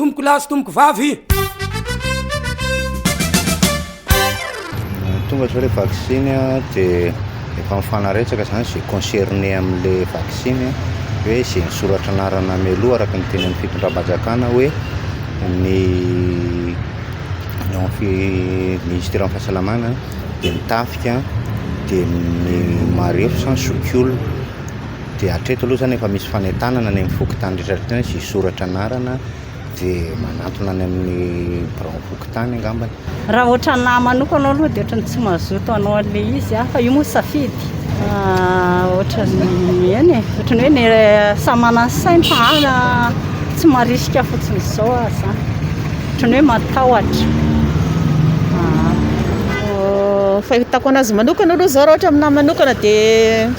Tompoko lahy sy tompoko vavy. Tonga zao le vaksiny a de efa mifanaretsaka zany ze concerné amle vaksiny a hoe ze misoratra anarana mialoha araka ny teny aminy fitondram-panjakana hoe ny ministeran'ny fahasalamana de ny tafika de ny marefo sa ny zokiolona. Dia hatreto aloha izany efa misy fanentanana any amin'ny fokontany rehetra rehetra any izay hisoratra anarana dia manantona any amin'ny biraon'ny fokontany angambany. Raha ohatra ny ahy manokana aloha dia ohatra ny tsy mazoto hanao an'ilay izy aho fa io moa safidy. Ohatra ny eny e, ohatra ny hoe ny samy manana ny sainy fa ahy tsy marisika fotsiny izao aho izany. Ohatra ny hoe matahotra. Ny fahitako an'azy manokana aloha izao raha ohatra ny ahy manokana dia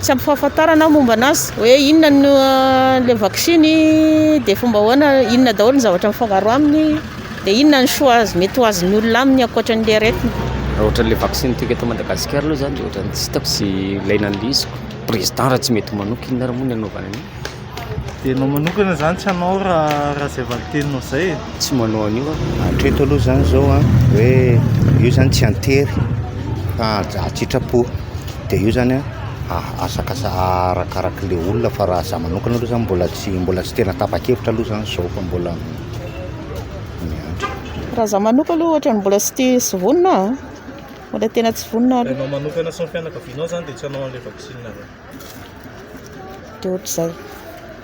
Tsy ampy fahafantarana aho momba anazy hoe inona no le vaksiny dia fomba ahoana inona daholo ny zavatra mifangaro aminy dia inona ny soa azo mety ho azon'ny olona aminy ankoatran'ilay aretina. Raha ohatran'ny le vaksiny antsika eto Madagasikara aloha zany dia ohatran'ny tsy hitako sy ilaina an'ilay izy. Président raha tsy mety manoka inona ary moa ny anaovana an'io. Dia ianao manokana izany tsy hanao raha raha izay valinteninao izay e? Tsy manao an'io aho. Hatreto aloha izany izao a, hoe io izany tsy an-tery fa an-tsitrapo. Dia io izany a, asakasa- arakaraka ilay olona fa raha izaho manokana aloha izany mbola tsy mbola tsy tena tapa-kevitra aloha izany izao fa mbola miandry. Raha izaho manokana aloha ohatran'ny mbola tsy tia sy vonona aho a, mbola tena tsy vonona aloha. Ianao manokana sy ny fianakavianao izany dia tsy hanao an'ilay vaksiny izany? dia ohatr'izay.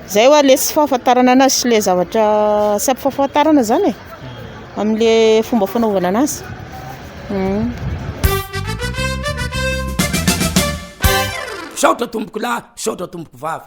Izay hoa ilay tsy fahafantarana anazy sy ilay zavatra tsy ampahafantarana izany e, amin'ilay fomba fanaovana anazy. Misaotra tompokolahy, misaotra tompokovavy.